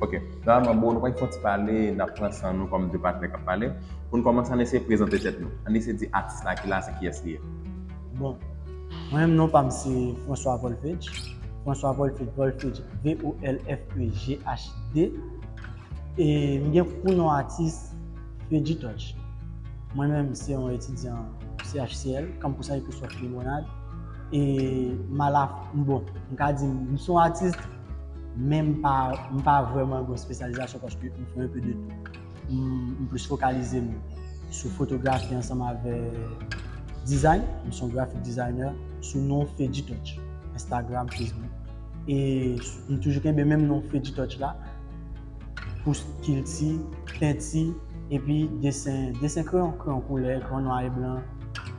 Ok, Nòmalman bro nou konn fon ti pale, nap pran san nou kòm 2 patnè kap pale. Pou nou kòmanse ann eseye prezante tèt nou. Ann eseye di atis la ki la se kiyès li ye. Bon, mwen menm non pam se François Volfedj, François Volfedj, Volfedj, V-O-L-F-E-G-H-D, e m gen pou non atis Fedji Touch. Mwen menm se yon etidyan CHCL, Camp Pousan Episcope Limonade, e m ala, bon, m ka di m se yon atis, Men m pa, m pa vrèman gen yon spesyalizasyon paske m fè anpe de tou. M plis fokalize m sou fotografi ansanm avè dizayn, m son grafik dizayner sou non Fedji Touch, Instagram, Facebook. E m toujou kenbe menm non Fedji Touch la pou kilti, penti epi desen, desen kreyon, kreyon koulè, kreyon nwa e blan.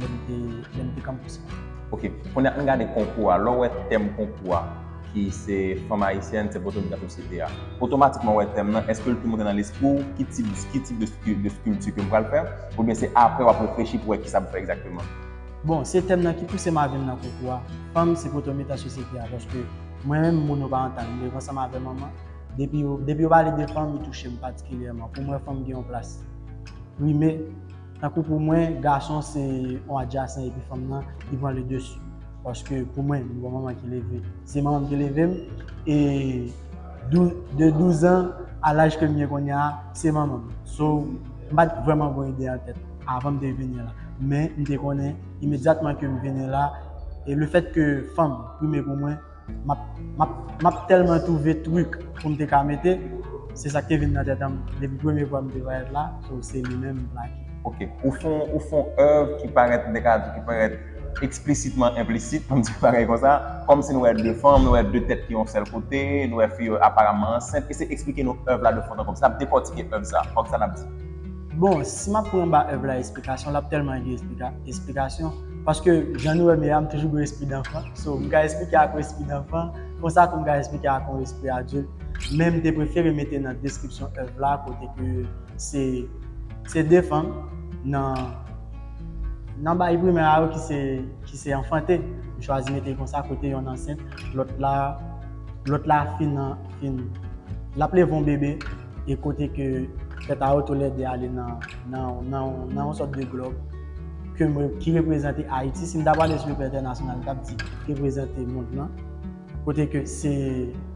lè m te lè m te kanpous la. Ok, kounye a an gade konkou a, lè w wè tèm konkou a ki se fanm ayisyèn se poto ki nan sosyete a, otomatikman w wè tèm nan èske l tou monte nan lespri w ki tip ki tip de de skilti ke m pral fè oubyen se aprè w ap reflechi pou wè kisa pou fè egzakteman? Bon, se tèm nan ki pouse m a vin nan konkou a, fanm se poto mitan sosyete a paske mwen menm moun yo pa antan m, devan sa m avè manman, depi yo depi yo pale de fanm li touche m patikilyèman pou mwen fanm gen yon plas prime. Tankou pou mwen gason se yon adjasen epi fanm nan ki pran le dessus. Paske pou mwen m gon manman ki leve, se manman m ki leve m e de 12 ans a laj ke m gen kounye a se manman m. So m pa t vrèman gon ide an tèt avan m te vini la. Men m te konnen imedyatman ke m vini la e le fèt ke fanm prime pou mwen, Map telman trouve truc poum te ka mete se sak te vin nan tèt anm depi premye fwa m te wè la so se li menm m plake. Ok, ou fon ou fon oeuvre ki parèt m te ka di ki parèt explicitman implicite poum di yon bagay konsa, kòmsi nou wè 2 fanm, nou wè 2 tèt ki yon sèl kote, nou wè fi yo aparamman ansent, eseye eksplike nou oeuvre la de fon an konble, sa ap dekòtike oeuvre sa, ok sa nap di. Bon, si map pran ba oeuvre la esplikasyon lap telman gen esplikasyon. Paske jan nou wè m ye a, m toujou gen yon espri danfan. So, m ka esplike ak yon espri danfan, konsa tou m ka esplike ak yon espri adilt. Men m te prefere mete nan deskripsyon èv la kote ke se se de fanm nan nan bayi primè a yo ki se ki se anfante. M chwazi mete l konsa kote yonn ansent, lòt la lòt la fin fin l ap leve yon bebe. e kote ke tèt a yo tou lè 2 ale nan nan yon sòt de glòb ke m ki reprezante Ayiti, si m ta pale sou le plan entènasyonal m t ap di reprezante mond lan, kote ke se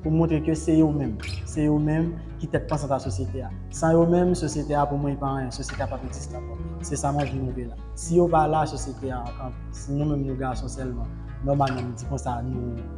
pou montre ke se yo menm, se yo menm ki tèt pansant a sosyete a. San yo menm, sosyete a pou mwen li pa anyen, sosyete a p ap egziste ankò. Se sa mwen vin montre la. Si yo pa la, sosyete a ap kanpe. Si nou menm nou gason sèlman, nòmalman m di konsa nou.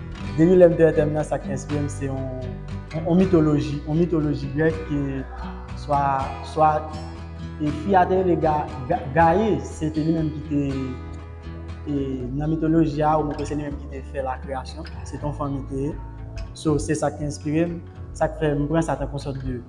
Depi lè m te èdèm nan, sa k enspire m se yon mitoloji, yon mitoloji grèk ke swa, swa e fi a te rele ga, gaye, se te li menm ki te e nan mitoloji a ou mwen kwè se li menm ki te fè lakreyasyon, se te yon fanm li te ye. So, se sa k enspire m, sa k fè m pran sa tankou yon sòt de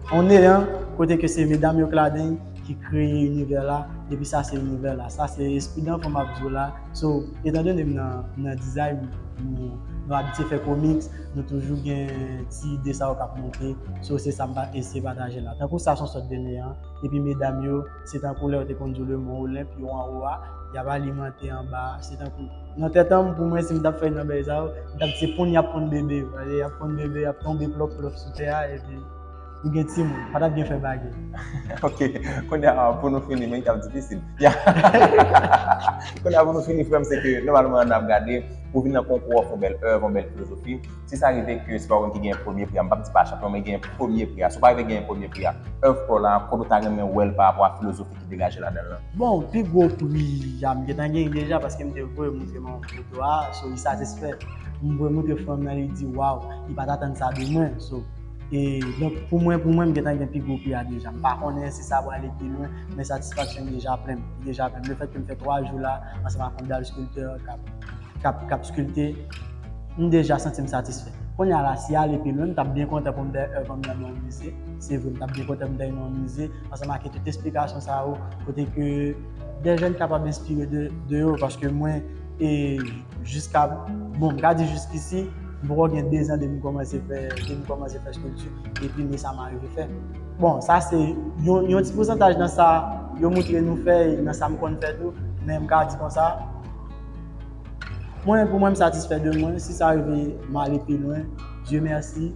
yon neyan kote ke se medam yo k ladan ki kreye inivè la epi sa se inivè la. Sa se espri danfo m ap di w la. So, etan done m nan nan dizay, nou nou abitye fè komiks, nou toujou gen ti ide sa yo k ap monte. So, se sa m ta eseye pataje la. Tankou sa son sòt de neyan, epi medam yo, se tankou lè yo te konn di w le mont Olympe, yo anwo a, y ap alimante anba a, se tankou. Nan tèt an m, pou mwen, si m t ap fè youn nan bagay sa yo, m t ap di se ponn y ap ponn bebe yo. Paske y ap ponn bebe, y ap tonbe plòp plòp sou tè a, epi. Ou gen timoun, pa tap gen fè bagay. Ok, konya pou nou fini, men ki ap difisil. Konya pou nou fini frèm se ke nòmalman an ap gade pou vin nan konkou an fon bèl èv, fon bèl filozofi. Si sa rive ke se pa ou menm ki genyen premye pri a, m pap di pa chanpyon men genyen premye pri a. Si ou pa rive genyen premye pri a, èv pa w la, kote ou ta renmen wè l pa rapò a filozofi ki degaje ladan l lan? Bon, pi gwo pri a m gentan genyen deja paske m te voye montre manman m foto a, so li satisfè. M voye montre fanm nan li di waw, li pa t atann sa de mwen. So. E donk pou mwen pou mwen m gentan gen pi gwo pri a deja. M pa konnen si sa prale pi lwen, men satisfaksyon m deja plen. Li deja plen. Le fèt ke m fè 3 jou la ansanm ak yon dal skiltè k ap skilte, m deja santi m satisfè. Kounye a la, si ale pi lwen, m t ap byen kontan pou m te èv m nan nan yon mize. Se vre, m t ap byen kontan pou m te nan yon mize ansanm ake tout esplikasyon sa yo kote ke dè jèn kapab enspire de yo paske mwen e. Jiska, bon m ka di jiskisi, m poko gen 2 zan depi m kòmanse fè, depi m kòmanse fè skilpti, epi men sa m arive fè. Bon, sa se yon, yon ti pousantaj nan sa yo moutre nou fè e nan sa m konn fè tou, men m ka di konsa, mwen, pou mwen m satisfè de mwen, si sa rive m ale pi lwen, Dye mèsi.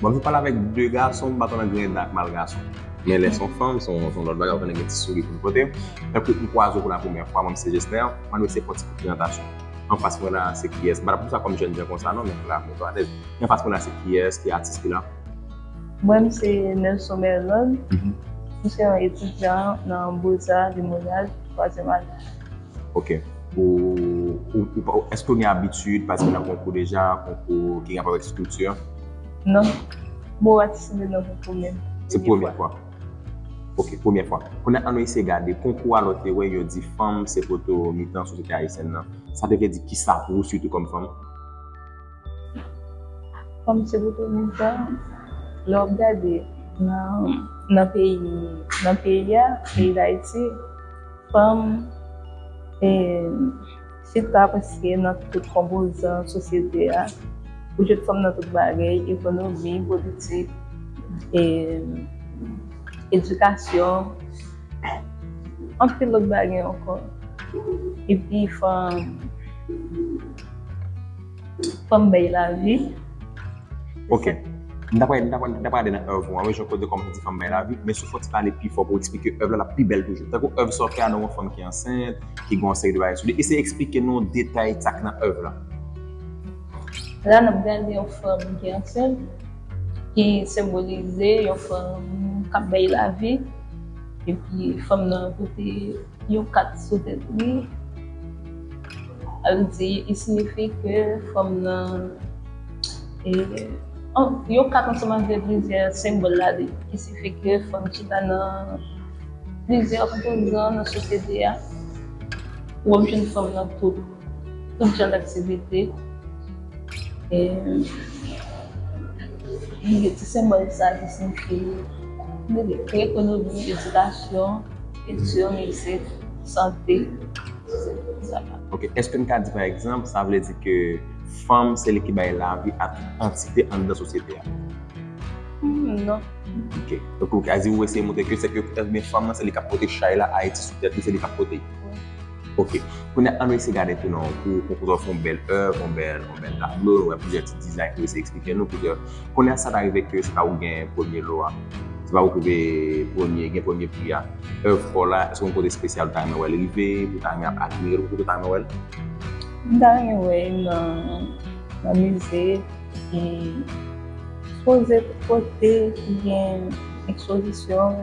Bon m fin pale avèk 2 gason m pa konn ank rèd la ak mal gason. Men lè son fanm son lòt bagay ou konnen gen ti souri pou l pote. Tankou m kwaze w pou la premyè fwa mwen m se Jesner, m annik se fon ti kout prezantasyon. Anfas mwen la se kiyès? M pa ta pran sa kòm jènjan konsa non men m la mwen tou alèz. Anfas mwen la se kiyès? Ki atis ki la? Mwen m se Nelson Merlon. M se yon etidyan nan Boza de Monyal, twazyèm ane. Ok. Ou, èske ou gen abitid patisipe nan konkou deja? Konkou ki gen rapò avèk estrikti? Non. Mwen wè ti soulye nan pou premye fwa. Se premye fwa. Ok, premye fwa. Kounye a an nou eseye gade konkou a lòt te wè yo di fanm se poto mitan sosyete ayisyèn nan. Sa te vle di kisa pou ou sitou kòm fanm? Fanm se poto mitan. Lè w ap gade nan peyi, nan peyi a, peyi Dayiti, fanm e. Sit la prèske nan tout konpozan sosyete a, ou jwenn fanm nan tout bagay, ekonomi, politik, edikasyon, anpil lòt bagay ankò. Epi fanm. Fòm bay la vi. Ok. M ta pral, m ta pral, m ta pral ale nan oeuvre ou an wi, jan kote kòm ou di fanm bay lavi, men si w fè yon ti pale pi fò pou w eksplike oeuvre la, l ap pi bèl toujou. Tankou oeuvre sa w fè a nan yon fanm ki ansent, ki gen yon seri de bagay sou li. Eseye eksplike nou detay sa k nan oeuvre la. La n ap gade yon fanm ki ansent, ki senbolize yon fanm k ap bay lavi. Epi fanm nan pote yon kat sou tèt li. Al di i sinifi ke fanm nan e yon kat ansanm avè plizyè senbòl la li ki sifi ke fanm chita nan plizyè opozan nan sosyete a ou ap jwenn fanm nan tout tout jan daktivite e li gen ti senbòl sa ki sinifi li gen ekonomi, edikasyon. Kilti, mizik, sante, se tout sa la. Ok, eske n ka di pa egzanp, sa vle di ke fanm se li ki bay lavi a tout antite anndan sosyete a? Humm, non. Ok, donk ou ka di, ou eseye montre ke se ke fanm nan se li k ap pote chay la, Ayiti sou tèt li, se li k ap pote l? Wi. Ok, kounye an nou eseye gade tou nan yon kou, yon kou ta fon bèl èv, yon bèl tablo, nou wè plizyè ti dizay ki eseye eksplike nou koulè. Kounye an sa ta rive ke se pa ou gen premye lo a, se pa ou ki te premye, gen premye pri a. Èv pa w la, èske gen yon kote espesyal ou ta renmen wè l rive, ou ta renmen ap admire l ou pito ta renmen wè l? M ta renmen wè l nan mize ki sipoze pote, ki gen ekspozisyon.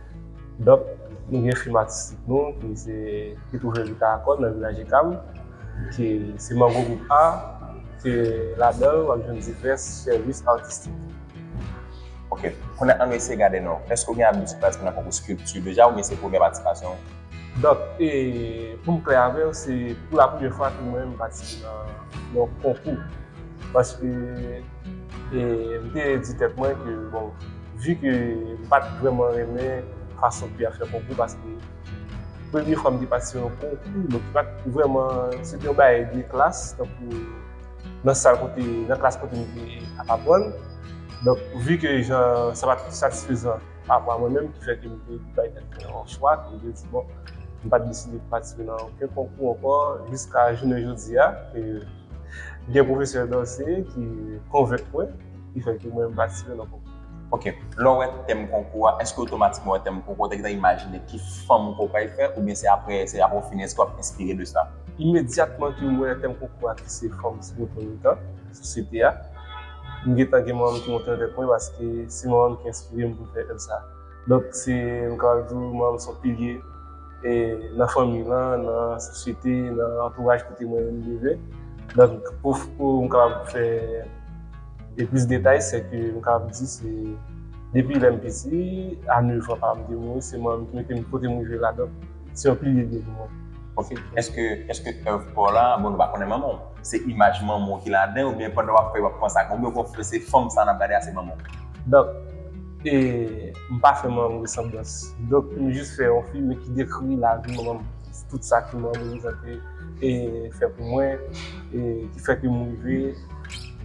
Donk, nou gen fim atistik nou ki se ki twouve li ka akòn nan Vilaj Ekam ki se Mango Gwoup A ke ladan l w ap jwenn divès sèvis atistik. Ok. Kounye a annou eseye gade non. Èske ou gen abitid patisipe nan konkou skulpti deja oubyen se premyè patisipasyon ou? Donk, pou m klè avè w se pou la premyè fwa ke mwen menm m patisipe nan yon konkou paske. E m te di tèt mwen ke bon, vi ke m pa t vrèman renmen fason pi a fè konkou paske premye fwa m te patisipe nan yon konkou bon ki pa t vrèman, se te yon bagay de klas tankou nan sal kote, nan klas kote m te ap aprann. Donk vi ke jan sa pa t satisfezan pa rapò a mwen menm ki fè ke m te bay tèt mwen yon chwa ke m te di bon m pa t deside patisipe nan oken konkou ankò jiska jounen jodi a ke Gen pwofesè danse ki konvenk mwen, ki fè ke mwen m patisipe nan konkou. Ok. Lè w wè tèm konkou a, èske otomatikman w wè tèm konkou a, ou te gentan imajine ki fòm konkou a fè oubyen se aprè, se aprè w fini, èske w ap enspire de sa? Imedyatman ke m wè tèm konkou a ki se fòm Sinopolytan, sosyete a, m gentan gen manman m ki monte avèk mwen paske se manman m ki enspire m pou m fè evre sa. Donk se nou kapab di manm son pilye nan fanmi lan, nan sosyete, nan antouraj kote mwen leve. Donk pou m kapab fè plis detay se ke m kapab di se depi lè m piti a 9 an papa m te mouri se manm ki mete m kote m rive la donk se yon pilye liye pou mwen. Ok, eske èv pa w la, bon nou pa konnen manman w, se imaj manman w ki ladan oubyen pandan w ap fè yo ap panse ak manman w oubyen w konn fè se fanm sa n ap gade a se manman w? Donk. E m pa fè manman m resanblans. Donk m jis fè yon fim ki dekri lavi manman m, tout sa ke manman m reprezante e fè pou mwen e ki fè ke m rive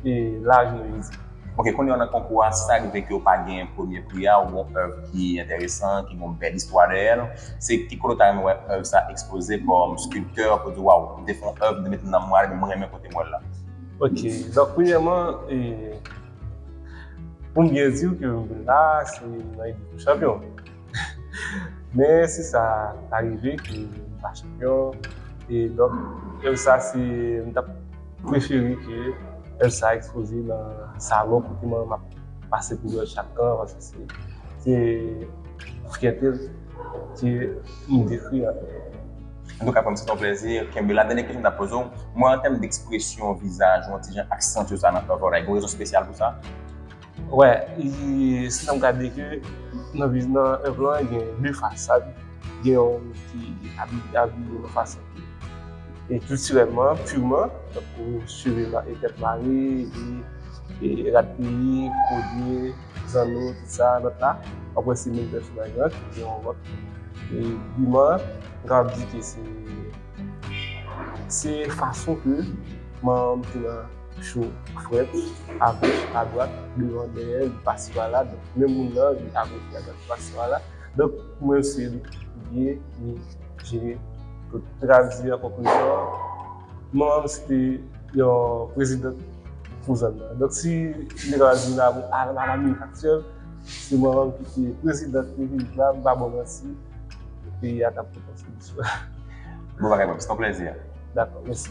e la jounen jodi. Ok, kounye an nan konkou a, sa rive ke w pa genyen premye pri a, ou gen yon èv ki enteresan, ki gen yon bèl istwa dèyè l, se ki kote w ta renmen wè èv sa ekspoze kòm skilptè, pou w di waw, m te fè yon èv, m te mete nanm mwen ale men m renmen kote m wè l la? Ok, donk premyèman e. Pou m byen di w ke m vin la a, se nan ekip pou chanpyon. Men si sa ta rive ke m pa chanpyon, e donk Elsa se m t ap prefere ke Elsa ekspoze nan salon kote mwen m ap pase pou wè l chak tan paske se se fyète l ke m dekri an. An tou ka frèm se ton plèzi, kenbe la. Dènye kesyon m ta poze w, mwen an tèm d'ekspresyon vizaj ou an ti jan aksantye sa nan Fèvòlay, gen yon rezon spesyal pou sa? Wè, se sa m ka di ke nan viz nan èv lan gen de fasad, gen yon moun ki abiye nan fason ki e kiltirèlman, pirman, tankou cheve e tèt mare, e rad peyi, kolye. zanmi sa lòt la wap wè se menm pèsonaj lan ki gen yon lòt biman mwen kapab di ke se se fason ke manman m te nan cho frèt agoch adwat devan dèyè li pasi pala donk menm moun nan li agoch li adwat li pasi pala donk pou mwen se li ki pibliye li jere tout mwen kapab di an konklizyon Manman m se te yon president pou zòn nan. Donk si li ta di la pou a la mi aktyèl, se manman m ki te president pou vil la, m pa ba w manti, peyi a t ap pi konstitye. Bon bagay bro, se t yon plèzi. Dakò, mèsi.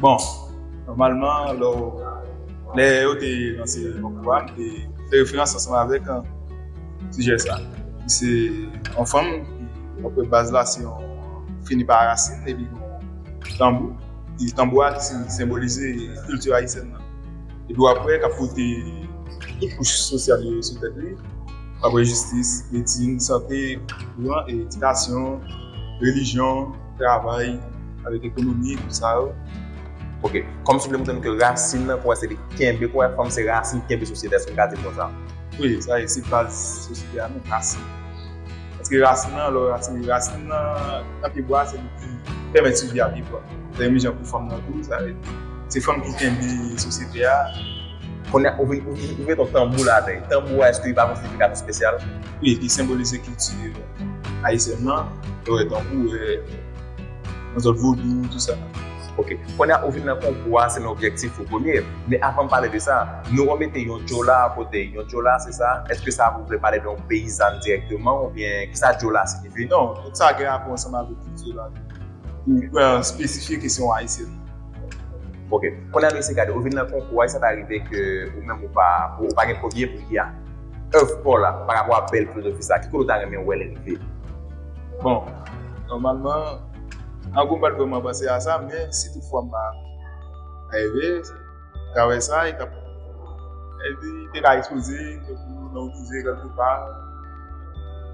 Bon, nòmalman, lò lè yo te lanse yon kouwa, m te fè referans ansanm avèk an sijè sa. Ki se yon fanm, apre baz la se yon fini pa rasin, epi tanbou. Ki tanbou a ki senbolize kilti ayisyèn nan. Epi w ap wè k ap pote tout kouch sosyal yo sou tèt li. Apre jistis, medsin, sante, kouran, edikasyon, relijyon. Travay avèk ekonomi tout sa yo. Ok, kòm souple m tande ke rasin nan kouwè se li ki kenbe, kouwè fanm se rasin ki kenbe sosyete a, èske m ka di l konsa? Wi, sa e, se baz sosyete a menm, rasin. Paske rasin nan, lè w rasin, rasin nan nan pyebwa a se li ki pèmèt sivi a pyebwa. Se menm jan pou fanm nan tou, sa vle di se fanm ki kenbe sosyete a. Kounye a ou vin, ou mete yon tanbou la atè. Tanbou a èske li pa gon siyifikasyon espesyal? Wi, li senbolize kilti. Ayisyen nan, yo wè tankou e yon zòt vodou tou sa. Ok, kounye a ou vin nan konkou a, se nan objektif ou premye. Men avan m pale de sa, nou remete yon djola a kote. Yon djola se sa? Eske sa vou vle pale de yon peyizàn dirèkteman oubyen ki sa djola sinifi? Non, tout sa gen rapò ansanm avèk kilti la. Ou pran espesifye kesyon ayisyen. Ok, kounye a nou eseye gade. Ou vin nan konkou a, e sa ta rive ke ou menm ou pa gen premye pri a? Oeuvre paw la pa rapò a bèl filozofi sa ki kote ou ta renmen wèl rive? Bon, nòmalman ango m pat vrèman panse a sa men si tout fwa m pa reve travè sa li tap li te ka ekspoze tankou nan yon mize kèlke pa.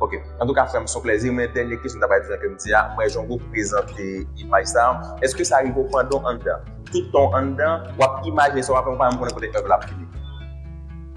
Ok, antouka frèm son plèzi men dènye kesyon ta bay di jan kem di a mwen jango prezante imaj sa eske sa rive w pandan w anndan tout tan w anndan wap imajine sa wap fè ou pa menm konnen kote oeuvre la ap fini?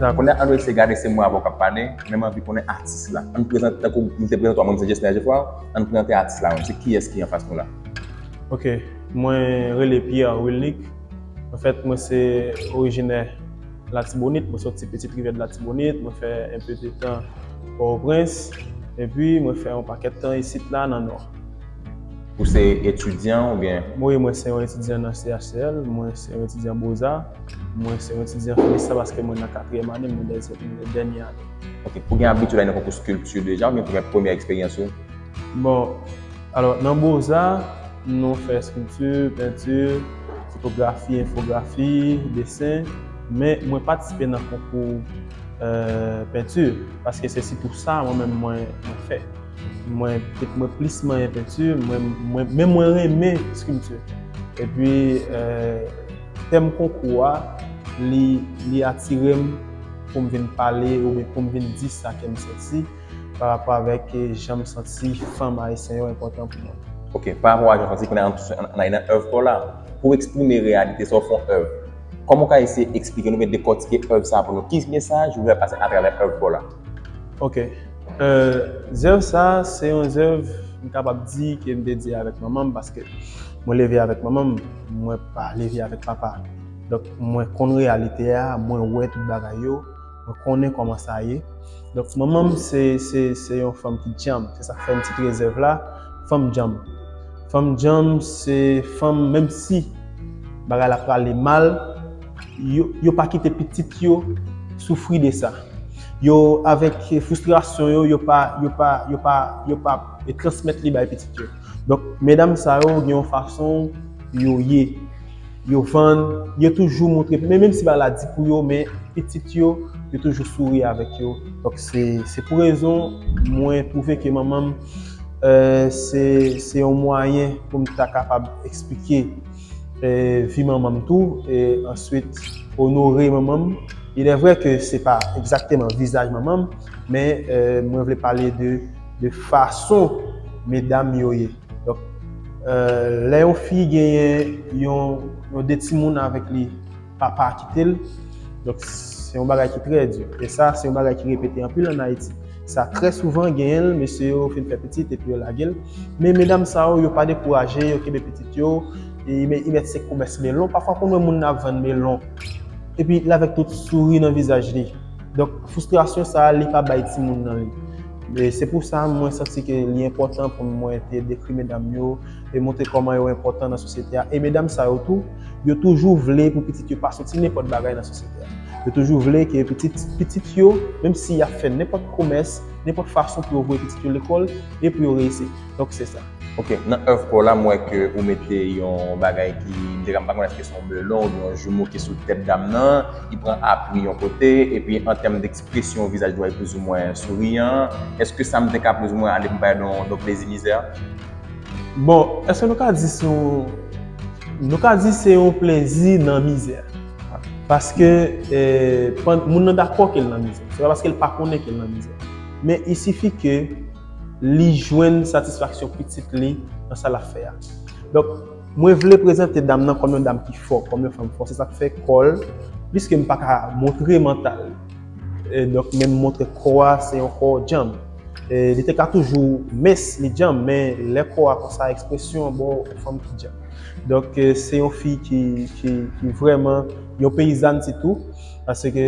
Nan kounye a, an nou eseye gade se mwen avè w k ap pale, men m anvi konnen atis la. An nou prezante, tankou m te prezante w a, mwen m se Jesner Geffrard, an nou prezante atis la menm, se kiyès ki anfas nou la? Ok, mwen rele Pierre Wilnick, anfèt mwen se orijinè. Latibonit, mwen soti Petite Rivière de Latibonite, mwen fè un peu de tan Port-au-Prince, epi mwen fè yon pakèt tan isit la nan Nò. Ou se etidyan oubyen? Wi, mwen se yon etidyan nan CHCL, mwen se yon etidyan Boza, mwen se yon etidyan Felista paske mwen nan katriyèm ane, mwen dènyè ane. Ok, ou gen abitid ale nan konkou skilti deja oubyen pou gen premyè eksperyans ou? Bon, alò nan Boza, nou fè eskilti, penti, fotografi, enfografi, desen, men mwen patisipe nan konkou penti, paske se sitou sa mwen menm mwen fè. Mwen plis manyen penti, men mwen renmen eskilti. Epi, tèm konkou a, li atire m pou m vin pale oubyen pou m vin di sa kè m santi. pa rapò avèk jan m santi fanm ayisyen yo enpòtan pou mwen. Ok, pa rapò a jan w santi, kounye a an plis an ale nan èv pa w la, pou w eksprime reyalite sa w fè yon èv. Kòman w ka eseye eksplike nou oubyen dekòtike èv sa a pou nou? Ki mesaj ou vle fè pase atravè èv pa w la? Ok. Zèv sa a se yon zèv m kapab di ke m te di avèk manman m paske mwen leve avèk manman m, mwen pa leve avèk papa. Donk mwen konn reyalite a, mwen wè tout bagay yo. Mwen konnen kòman sa ye. Donk manman m se se se yon fanm ki djanm. Se sa k fè m titile zèv la Fanm djanm. Fanm djanm se fanm menm si bagay la prale mal, yo yo pa kite pitit yo soufri de sa. Yo avèk fristrasyon yo, yo pa yo pa yo pa yo pa transmèt li bay pitit yo. Donk medam sa yo gen yon fason yo ye. yo vann, yo toujou moutre, men menm si bagay la di pou yo, men pitit yo, yo toujou souri avèk yo. Donk se, se pou rezon mwen twouve ke manman m, se, se yon mwayen pou m ta kapab esplike vi manman m tou, e answit onore manman m. Ilèvrè ke se pa egzakteman vizaj manman m, men mwen vle pale de, de fason medam yo ye. Donk, lè yon fi genyen yon yon de timoun avèk li, papa a kite l, donk se yon bagay ki trè di. E sa se yon bagay ki repete anpil an Ayiti. Sa trè souvan genyen l, mesye yo fin fè pitit epi yo lage l. Men medam sa yo, yo pa dekouraje, yo kenbe pitit yo, e men y mèt se komès melon. Pafwa konn wè moun nan ap vann melon, epi l avèk tout souri nan vizaj li. Donk, fristrasyon sa a li ka bay timoun nan li. Se pou sa mwen santi ke li enpòtan pou mwen te dekri medam yo e montre kòman yo enpòtan nan sosyete a. E medam sa yo tou, yo toujou vle pou pitit yo pa soti nenpòt bagay nan sosyete a. Yo toujou vle ke pitit pitit yo, menm si y ap fè nenpòt pwomès, nenpòt fason pou yo voye pitit yo lekòl e pou yo reyisi. Donk se sa. Ok, nan èv pa w la m wè ke ou mete yon bagay ki, m te ka m pa konnen èske se yon melon oubyen yon joumou ki sou tèt dam nan, li pran apui yon kote, epi an tèm de. Presyon vizaj Dwayne plouzimwen souriyan. Eske sa m te ka plouzimwen ale pou bay nou nou plezi mizè? Bon, eske nou ka di se yon, nou ka di se yon plezi nan mizè. Paske moun nan dakò ke l nan mizè. Se pa paske l pa konnen ke l nan mizè. Men il sifi ke li jwenn satisfaksyon pitit li nan sa l ap fè a. Donk. Mwen vle prezante dam nan kòm yon dam ki fò, kòm yon fanm fò. Se sa k fè kò l, pliske m pa ka montre mantal li, donk men m montre kò a se yon kò djanm. Li te ka toujou mens, li djanm, men lè kò a konsa, ekspresyon an ba w yon fanm ki djanm. Donk se yon fi ki vrèman yon peyizàn sitou, paske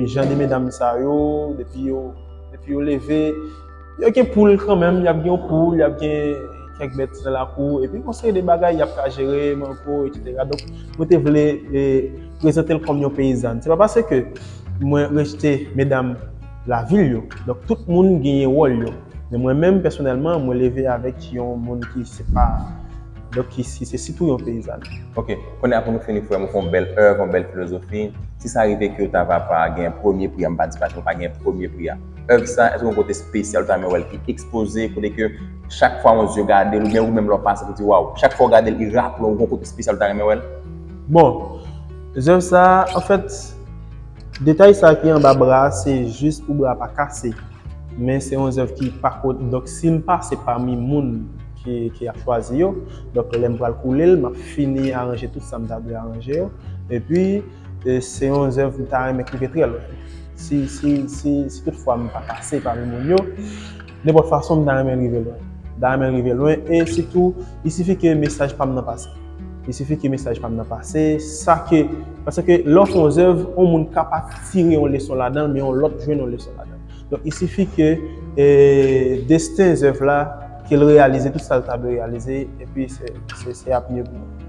jan de medam sa yo, depi yo leve. Y ap gen poul kanmenm, y ap gen yon poul, y ap gen kèk bèt nan lakou, epi yon seri de bagay y ap ka jere, mango, eksetera. Donk, mwen te vle prezante l kòm yon peyizàn. Se pa paske mwen rejte medam lavil yo. Donk, tout moun genyen wòl yo. Men mwen menm pèsonèlman, mwen leve avèk yon moun ki se pa, donk ki se sitou yon peyizàn. Ok. Kounye a pou nou fini, frè m, ou fè yon bèl èv, yon bèl filozofi. Si sa rive ke yo ta va pa gen premye pri a, m pa di pa gen premye pri a. Èv sa, èske gen yon kote espesyal ou ta renmen wè l ki ekspoze, kote ke chak fwa yon zye gade l oubyen ou menm lè w pase pou di waw, chak fwa w gade l li raple w gen yon kote espesyal ou ta renmen wè l? Bon, zèv sa, anfèt, detay sa ki anba bra a se jis pou bra a pa kase. Men se yon zèv ki pa ko, donk si m pase pami moun ki ap chwazi yo, donk lè m pral koule l, m ap fini aranje tout sa m ta dwe aranje yo. Epi. Se yon zèv m ta renmen k rive trè lwen. Si tout fwa m pa pase pami moun yo, nenpòt fason m ta renmen rive lwen. M ta renmen rive lwen e sitou li sifi ke mesaj pa m nan pase. Li sifi ke mesaj pa m nan pase, sa ke, paske lè w fè yon zèv, yon moun ka pa tire yon leson ladan l men yon lòt jwenn yon leson ladan l. Donk li sifi ke desten zèv la, ke l reyalize tout sa l ta dwe reyalize epi se ap mye pou mwen.